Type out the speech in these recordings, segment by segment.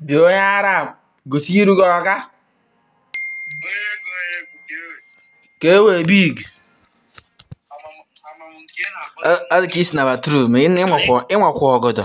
bịa onye ara gosi iru gị ọga ka e wee big adị ka i si na bathroom ị nwekwa ọgọdọ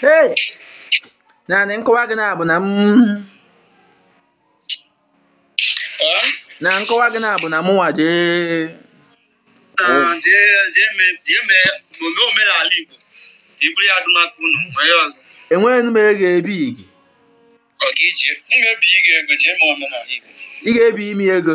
Hey! naanị nkọwa gị na-abụ na m na nkọwa gị na-abụ na mụnwa jee enweghị m ego ebi gị ị ga-ebi ime ego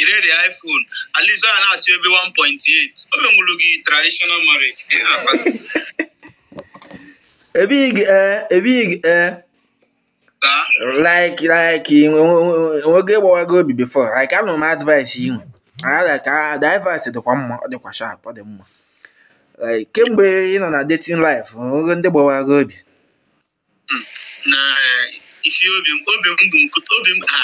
i rere iPhone at least ọ ya na-achọ ebe 1.8 o menwuru gị traditional marriage Ị na-akpasị. ebighị gị ee ebighị gị ee Ka like like nwoke gbawa gị obi before like anụ m advice ị nwe ada ka advice dịkwa mma ọ dịkwa sharp ọ dị mma like kemgbe ị nọ na dating life nwoke ndị gbawa gị obi Hmm. na eh, ị sị obi m obi m bụ nkụ obi m ha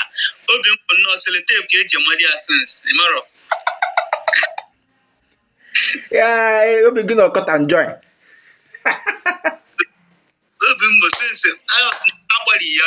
obi m bụ nnọọ sellotape ka e ji amado ya since ị marọ ya eh, obi gị na ọkọta enjoy obi m bụ since agbari ya